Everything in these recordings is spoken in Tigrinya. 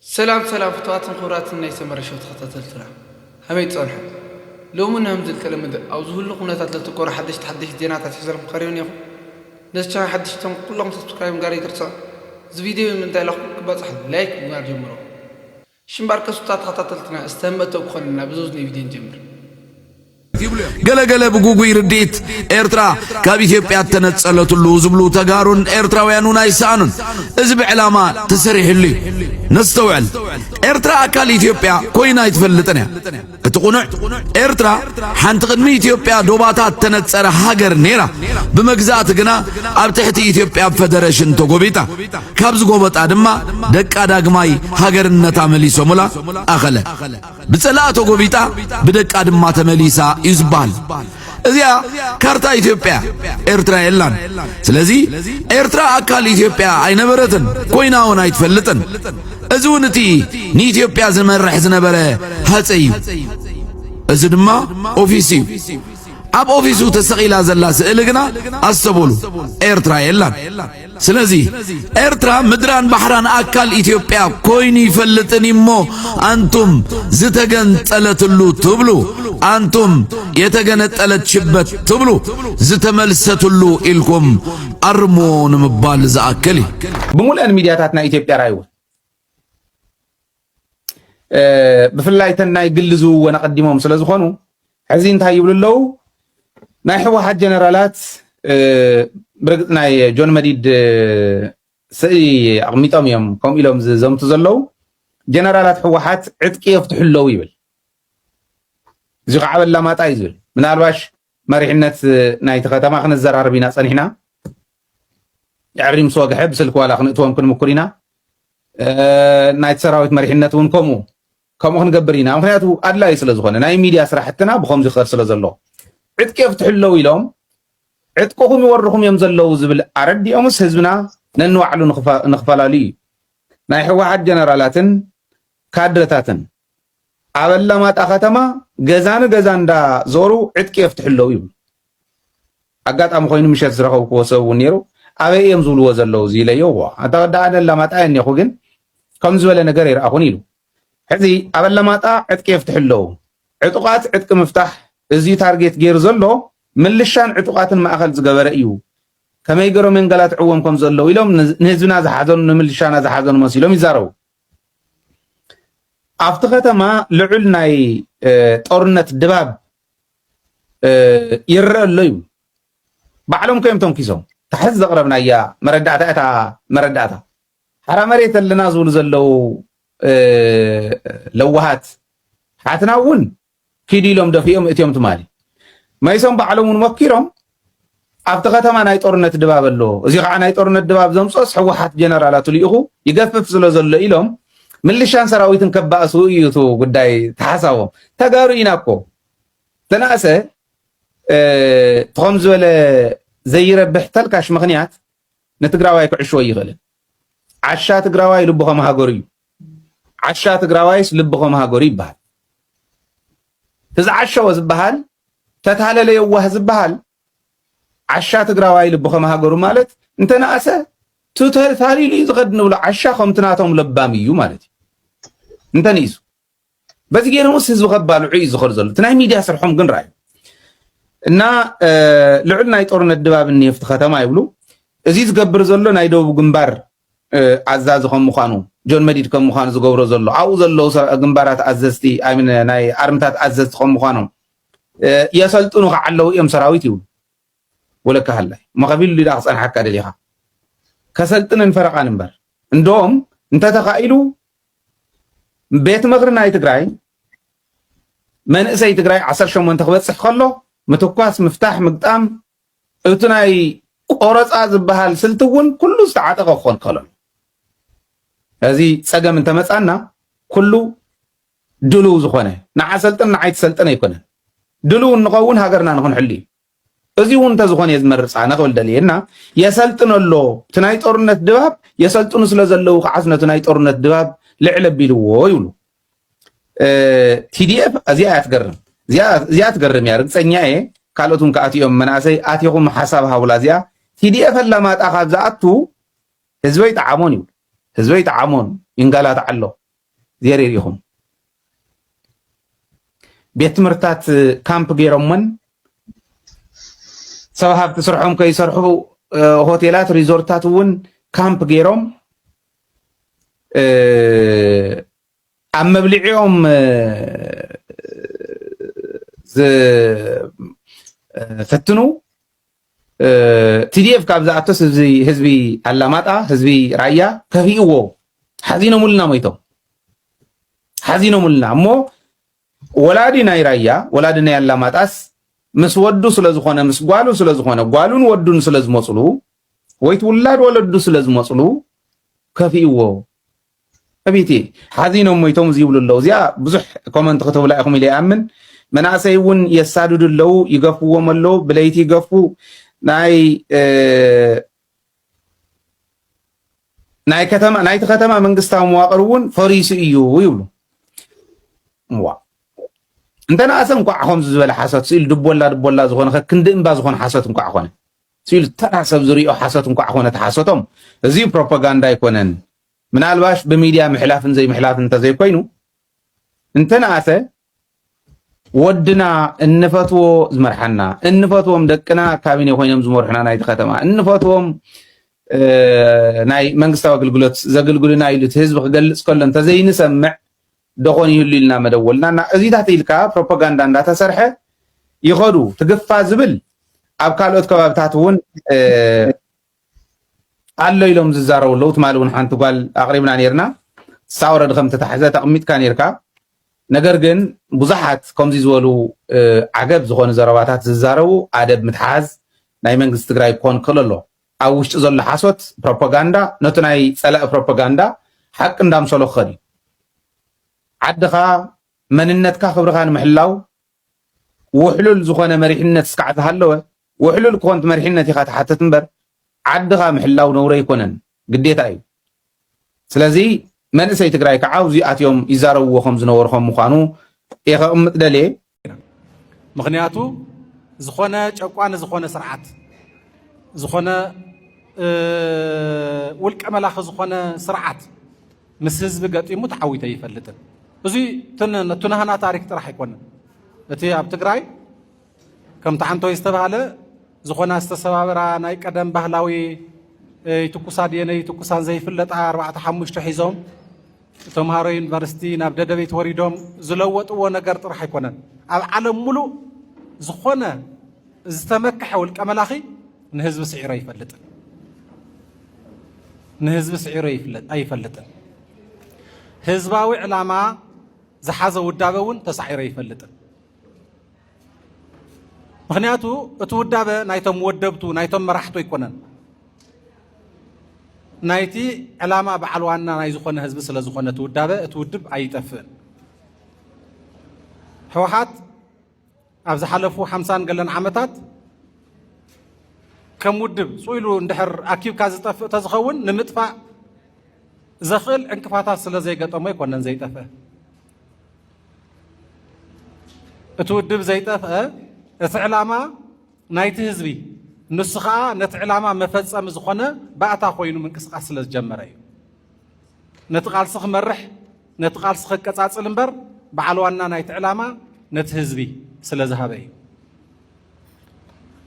ሰላም ሰላም ፍቱዋትን ክቡራትን ናይ ሰመረ ሸው ተኸታተልትና ሀመይ ትጸንሑ ሎሚ ንሀምዚ ልተለመደ ኣብ ዝሁሉ ኩነታት ለተኮረ ሐደሽቲ ሐደሽቲ ዜናታት ሒዘልኩም ቀሪበ ኔኹ ነዚ ቻናል ሐደሽቲ ትኾንኩ ኩለኹም ሰብስክራይብ ምግባር ኣይትርሰዑ እዚ ቪድዮ ብምንታይ ለኹም ክባጻሕኩም ላይክ ምግባር ጀምርዎ እሺ እምበኣር ከሱታ ተኸታተልትና እስቲ ሀም መእተዊ ክኾነና ብዘውዝነይ ቪድዮ ንጀምር። ገለገለ ብጉጉይ ርድኢት ኤርትራ ካብ ኢትዮጵያ እተነጸለትሉ ዝብሉ ተጋሩን ኤርትራውያኑን ኣይሰኣኑን። እዚ ብዕላማ ተሰሪሕሉ እዩ። ነስተውዕል፣ ኤርትራ ኣካል ኢትዮጵያ ኮይና ኣይትፈልጥን እያ። እቲ ቁኑዕ ኤርትራ ሓንቲ ቅድሚ ኢትዮጵያ ዶባታት እተነጸረ ሃገር ነይራ። ብመግዛእቲ ግና ኣብ ትሕቲ ኢትዮጵያ ፈደረሽን ተጎቢጣ። ካብ ዝጎበጣ ድማ ደቃ ዳግማይ ሃገርነታ መሊሶሙላ ኣኸለ። ብጸላኣ ተጎቢጣ ብደቃ ድማ ተመሊሳ እዩ ዝበሃል። እዚኣ ካርታ ኢትዮጵያ ኤርትራ የላን። ስለዚ ኤርትራ ኣካል ኢትዮጵያ ኣይነበረትን ኮይና እውን ኣይትፈልጥን። እዚ እውን እቲ ንኢትዮጵያ ዝመርሕ ዝነበረ ሃፀ እዩ። እዚ ድማ ኦፊስ እዩ። ኣብ ኦፊሱ ተሰቒላ ዘላ ስእሊ ግና ኣስተበሉ ኤርትራ የላን። ስለዚ ኤርትራ ምድራን ባሕራን ኣካል ኢትዮጵያ ኮይኑ ይፈልጥን እሞ ኣንቱም ዝተገንጠለትሉ ትብሉ ኣንቱም የተገነጠለት ሽበት ትብሉ ዝተመልሰትሉ ኢልኩም ኣርሞ ንምባል ዝኣክል እዩ። ብሙልአን ሚድያታት ናይ ኢትዮጵያ ራይወ ብፍላይ እተን ናይ ግሊ ዝውወን ኣቐዲሞም ስለ ዝኾኑ ሕዚ እንታይ ይብሉ ኣለዉ ናይ ሕወሓት ጀነራላት ብርግፅ ናይ ጆን መዲድ ስእሊ ኣቕሚጦም እዮም ከምኡ ኢሎም ዝዘምቱ ዘለዉ ጀነራላት ሕወሓት ዕጥቂ የፍትሑ ኣለዉ ይብል እዚ ከዓ በላማጣ እዩ ዝብል ምናልባሽ መሪሕነት ናይቲ ከተማ ክንዘራረብ ኢና ጸኒሕና። ድሕሪ ምስ ወግሐ ብስልኪ ዋላ ክንእትዎም ክንምኩር ኢና። ናይቲ ሰራዊት መሪሕነት እውን ከምኡ ከምኡ ክንገብር ኢና ምክንያቱ ኣድላዩ ስለ ዝኾነ ናይ ሚድያ ስራሕትና ብከምዚ ክኸድ ስለ ዘሎ ዕጥቂ የፍትሑ ኣለዉ ኢሎም ዕጥቅኹም ይወርኹም እዮም ዘለዉ ዝብል ኣረዲኦምስ ህዝብና ነንባዕሉ ንክፈላለዩ እዩ ናይ ሕወሓት ጀነራላትን ካድረታትን ኣብ ኣላማጣ ከተማ ገዛ ንገዛ እንዳ ዞሩ ዕጥቂ የፍትሑ ኣለዉ ይብሉ። ኣጋጣሚ ኮይኑ ምሸት ዝረኸብክዎ ሰብ እውን ነይሩ። ኣበይ እዮም ዝብልዎ ዘለዉ እዚ ኢለዮ እዎ ኣታ ወዲ ኣነ ኣላማጣ እየ እኔኹ ግን ከም ዝበለ ነገር ኣይረኣኹን ኢሉ። ሕዚ ኣብ ኣላማጣ ዕጥቂ የፍትሑ ኣለዉ። ዕጡቓት ዕጥቂ ምፍታሕ እዝዩ ታርጌት ገይሩ ዘሎ ምልሻን ዕጡቓትን ማእኸል ዝገበረ እዩ። ከመይ ገይሮም የንገላትዕዎም ከም ዘለዉ ኢሎም ንህዝብና ዝሓዘኑ ንምልሻና ዝሓዘኑ መሲሎም ይዛረቡ። ኣብቲ ከተማ ልዑል ናይ ጦርነት ድባብ ይረአ ኣሎ ይብሉ ባዕሎም ከዮም ተንኪሶም ታሕዚ ዘቕረብናያ መረዳእታ እታ መረዳእታ ሓራ መሬት ኣለና ዝብሉ ዘለዉ ለዋሃት ሓትና እውን ኪዱ ኢሎም ደፊኦም እትዮም ትማሊ መኢሶን ባዕሎም እውን ሞኪሮም ኣብቲ ከተማ ናይ ጦርነት ድባብ ኣሎ እዚ ከዓ ናይ ጦርነት ድባብ ዘምፅኦስ ሕወሓት ጀነራላቱ ልኢኹ ይገፍፍ ስለ ዘሎ ኢሎም ምልሻን ሰራዊትን ከባእሱ እዩ እቲ ጉዳይ ተሓሳቦም ተጋሩ ኢና እኮ ተናእሰ ትኸም ዝበለ ዘይረብሕ ተልካሽ ምክንያት ንትግራዋይ ክዕሽወ ይኽእልን ዓሻ ትግራዋይ ልቡ ከም ሃገሩ እዩ ዓሻ ትግራዋይስ ልብኾም ሃገሩ ይበሃል ትዝዓሸወ ዝበሃል ተታለለ የዋህ ዝበሃል ዓሻ ትግራዋይ ልብኾም ሃገሩ ማለት እንተነኣሰ ተታሊሉ እዩ ዝኸድ ንብሎ ዓሻ ከምቲ ናቶም ለባም እዩ ማለት እዩ እንተንኢሱ በዚ ገይሮምስ ህዝቢ ከባልዑ እዩ ዝኸዱ ዘሎ እቲ ናይ ሚድያ ስርሖም ግን ርኣዩ እና ልዑል ናይ ጦርነት ድባብ እኒሄ ፍቲ ከተማ ይብሉ እዚ ዝገብር ዘሎ ናይ ደቡብ ግንባር ኣዛዚ ከም ምዃኑ ጆን መዲድ ከም ምዃኑ ዝገብሮ ዘሎ ኣብኡ ዘለዉ ግንባራት ኣዘዝቲ ናይ ኣርምታት ኣዘዝቲ ከም ምዃኖም የሰልጥኑ ከዓ ኣለዉ እዮም ሰራዊት ይብሉ ወለካ ሃላይ እሞ ከቢሉ ሊዳ ክፀንሓካ ደሊኻ ከሰልጥንን ፈረቓን እምበር እንደም እንተተኻኢሉ ቤት ምኽሪ ናይ ትግራይ መንእሰይ ትግራይ 18 ክበፅሕ ከሎ ምትኳስ ምፍታሕ ምግጣም እቲ ናይ ቆረፃ ዝባሃል ስልቲ እውን ኩሉ ዝተዓጠቐ ክኾን ክኸእል ኣለዎ። እዚ ፀገም እንተመፃና ኩሉ ድሉው ዝኾነ ንዓ ሰልጥን ንዓይ ትሰልጥን ኣይኮነን። ድሉው እንኸውን ሃገርና ንክንሕሉ እዩ። እዚ እውን እንተዝኾነ እየ ዝመርፅ ኣነ ክብል ደልየ እና የሰልጥን ኣሎ እቲ ናይ ጦርነት ድባብ የሰልጥኑ ስለዘለዉ ከዓስ ነቲ ናይ ጦርነት ድባብ ልዕል ኣቢልዎ ይብሉ። ቲዲኤፍ እዚኣ እያ ትገርም እዚኣ ትገርም እያ ርግፀኛ እየ ካልኦት እውን ክኣት እዮም መናእሰይ ኣትኹም ሓሳብ ሃቡላ እዚኣ ቲዲኤፍ ኣላማጣ ካብ ዝኣቱ ህዝበይ ጠዓሞን ይብሉ ህዝበይ ጠዓሞን ይንጋላት ኣሎ ዜር ኢኹም ቤት ትምህርትታት ካምፕ ገይሮመን ሰብ ሃብቲ ስርሖም ከይሰርሑ ሆቴላት ሪዞርትታት እውን ካምፕ ገይሮም ኣብ መብልዒኦም ዝፈትኑ ቲዲኤፍ ካብ ዝኣቶስ ህዝቢ ኣላማጣ ህዝቢ ራያ ከፊእዎ ሓዚኖምልና ሞይቶም ሓዚኖምልና እሞ ወላዲ ናይ ራያ ወላዲ ናይ ኣላማጣስ ምስ ወዱ ስለ ዝኾነ ምስ ጓሉ ስለ ዝኾነ ጓሉን ወዱን ስለ ዝመጽሉ ወይት ውላድ ወለዱ ስለ ዝመጽሉ ከፊእዎ ዕብይቲ ሓዚኖም ሞይቶም እዚ ይብሉ ኣለዉ እዚኣ ብዙሕ ኮመንት ክትብላ ኢኹም ኢለ ይኣምን መናእሰይ እውን የሳድዱ ኣለዉ ይገፍዎም ኣለዉ ብለይቲ ይገፉ ናይ ናይ ከተማ ናይቲ ከተማ መንግስታዊ መዋቅር እውን ፈሪሱ እዩ ይብሉ እዋ እንተ ንኣሰ እንኳዕ ከምዚ ዝበለ ሓሶት ስኢሉ ድቦላ ድቦላ ዝኾነ ከክንዲ እምባ ዝኾነ ሓሶት እንኳዕ ኮነ ስኢሉ ተራ ሰብ ዝሪኦ ሓሶት እንኳዕ ኮነ ተሓሶቶም እዚ ፕሮፓጋንዳ ኣይኮነን ምናልባሽ ብሚድያ ምሕላፍን ዘይምሕላፍን እንተዘይኮይኑ እንተ ንኣሰ ወድና እንፈትዎ ዝመርሓና እንፈትዎም ደቅና ካቢኔ ኮይኖም ዝመርሑና ናይቲ ከተማ እንፈትዎም ናይ መንግስታዊ ኣገልግሎት ዘገልግሉና ኢሉ እቲ ህዝቢ ክገልፅ ከሎ እንተዘይንሰምዕ ደኾን ይህሉ ኢልና መደወልና እና እዚታት ኢልካ ፕሮፓጋንዳ እንዳተሰርሐ ይኸዱ ትግፋ ዝብል ኣብ ካልኦት ከባብታት እውን ኣሎ ኢሎም ዝዛረቡ ኣለዉ ትማሊ እውን ሓንቲ ጓል ኣቕሪብና ነርና ንሳ ወረዲ ከም ተታሕዘ ተቕሚጥካ ነርካ ነገር ግን ብዙሓት ከምዚ ዝበሉ ዓገብ ዝኾኑ ዘረባታት ዝዛረቡ ኣደብ ምትሓዝ ናይ መንግስቲ ትግራይ ክኾን ክእል ኣሎ ኣብ ውሽጢ ዘሎ ሓሶት ፕሮፓጋንዳ ነቲ ናይ ፀላኢ ፕሮፓጋንዳ ሓቂ እንዳምሰሎ ክኸድ እዩ ዓድኻ መንነትካ ክብርኻ ንምሕላው ውሕሉል ዝኾነ መሪሕነት እስካዕ ዝሃለወ ውሕሉል ኮንት መሪሕነት ኢኻ ትሓትት እምበር ዓድኻ ምሕላው ነውሪ ኣይኮነን ግዴታ እዩ ስለዚ መንእሰይ ትግራይ ከዓ ኣብዚ ኣትዮም ይዛረብዎ ከም ዝነበሩ ከም ምዃኑ እየ ከቕምጥ ደልየ ምክንያቱ ዝኾነ ጨቋኒ ዝኾነ ስርዓት ዝኾነ ውልቀ መላኺ ዝኾነ ስርዓት ምስ ህዝቢ ገጢሙ ተዓዊተ ይፈልጥን እዚ ትንሃና ታሪክ ጥራሕ ኣይኮነን እቲ ኣብ ትግራይ ከምቲ ሓንቶይ ዝተባህለ ዝኾና ዝተሰባበራ ናይ ቀደም ባህላዊ ይትኩሳ ድየነ ይትኩሳን ዘይፍለጣ ኣርባዕተ ሓሙሽተ ሒዞም ተምሃሮ ዩኒቨርሲቲ ናብ ደደቤት ወሪዶም ዝለወጥዎ ነገር ጥራሕ ኣይኮነን። ኣብ ዓለም ሙሉእ ዝኾነ ዝተመክሐ ውልቀ መላኺ ንህዝቢ ስዒሮ ኣይፈልጥን ንህዝቢ ስዒሮ ኣይፈልጥን። ህዝባዊ ዕላማ ዝሓዘ ውዳበ እውን ተሳዒሮ ኣይፈልጥን። ምክንያቱ እቲ ውዳበ ናይቶም ወደብቱ ናይቶም መራሕቱ ኣይኮነን ናይቲ ዕላማ በዓል ዋና ናይ ዝኾነ ህዝቢ ስለ ዝኾነ እቲ ውዳበ እቲ ውድብ ኣይጠፍእን ህወሓት ኣብ ዝሓለፉ ሓምሳን ገለን ዓመታት ከም ውድብ ፅኢሉ እንድሕር ኣኪብካ ዝጠፍእ ተዝኸውን ንምጥፋእ ዘኽእል ዕንቅፋታት ስለ ዘይገጠሞ ኣይኮነን ዘይጠፍእ እቲ ውድብ ዘይጠፍአ እቲ ዕላማ ናይቲ ህዝቢ ንሱ ከዓ ነቲ ዕላማ መፈፀሚ ዝኾነ ባእታ ኮይኑ ምንቅስቃስ ስለ ዝጀመረ እዩ ነቲ ቃልሲ ክመርሕ ነቲ ቃልሲ ከቀፃፅል እምበር በዓል ዋና ናይቲ ዕላማ ነቲ ህዝቢ ስለ ዝሃበ እዩ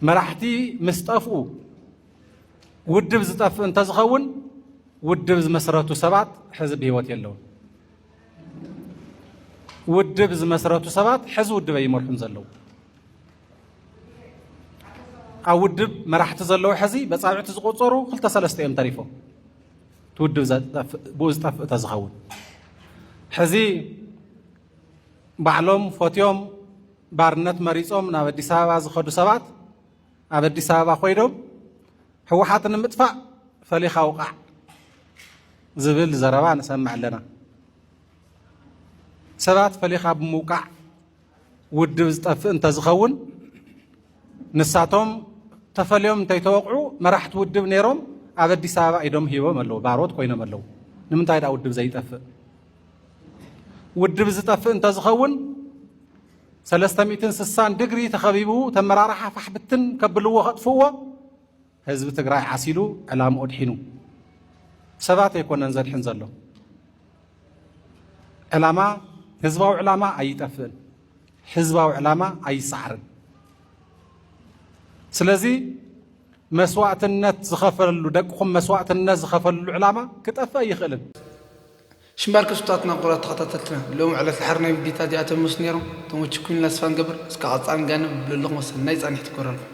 መራሕቲ ምስ ጠፍኡ ውድብ ዝጠፍእ እንተዝኸውን ውድብ ዝመስረቱ ሰባት ሕዚ ብሂወት የለውን ውድብ ዝመስረቱ ሰባት ሕዚ ውድበ ይመርሑም ዘለዉ ኣብ ውድብ መራሕቲ ዘለዉ ሕዚ በፃብዕቲ ዝቆፀሩ ክልተ ሰለስተ እዮም ተሪፎም እቲ ውድብ ብኡ ዝጠፍእ ተዝኸውን ሕዚ ባዕሎም ፈትዮም ባርነት መሪፆም ናብ ኣዲስ ኣበባ ዝኸዱ ሰባት ኣብ ኣዲስ ኣበባ ኮይኖም ህወሓት ንምጥፋእ ፈሊኻ ውቓዕ ዝብል ዘረባ ንሰምዕ ኣለና። ሰባት ፈሊኻ ብምውቃዕ ውድብ ዝጠፍእ እንተዝኸውን ንሳቶም ተፈልዮም እንተይተወቕዑ መራሕቲ ውድብ ነይሮም ኣብ ኣዲስ ኣበባ ኢዶም ሂቦም ኣለዉ፣ ባሮት ኮይኖም ኣለዉ። ንምንታይ ደኣ ውድብ ዘይጠፍእ? ውድብ ዝጠፍእ እንተዝኸውን ሰለስተ ሚእትን ስሳን ድግሪ ተኸቢቡ ተመራርሓ ፋሕ ብትን ከብልዎ ከጥፍእዎ ህዝቢ ትግራይ ዓሲሉ ዕላምኡ ድሒኑ ሰባት ኣይኮነን ዘድሕን ዘሎ ዕላማ ህዝባዊ ዕላማ ኣይጠፍእን ህዝባዊ ዕላማ ኣይሰዓርን ስለዚ መስዋእትነት ዝኸፈለሉ ደቅኹም መስዋእትነት ዝኸፈለሉ ዕላማ ክጠፍእ ኣይኽእልን። ሽምባር ክስቱታትና ኩቡራት ተኸታተልትና ሎሚ ዕለት ድሓር ናይ ምቢታ እዚኣቶም ይመስሉ ኔሮም ተመችኩምኒ ላስፋ ንገብር እስከ ቀጻሊ ንጋንብ ብለለኹም ሰናይ ጻኒሕት ይግበረልኩም።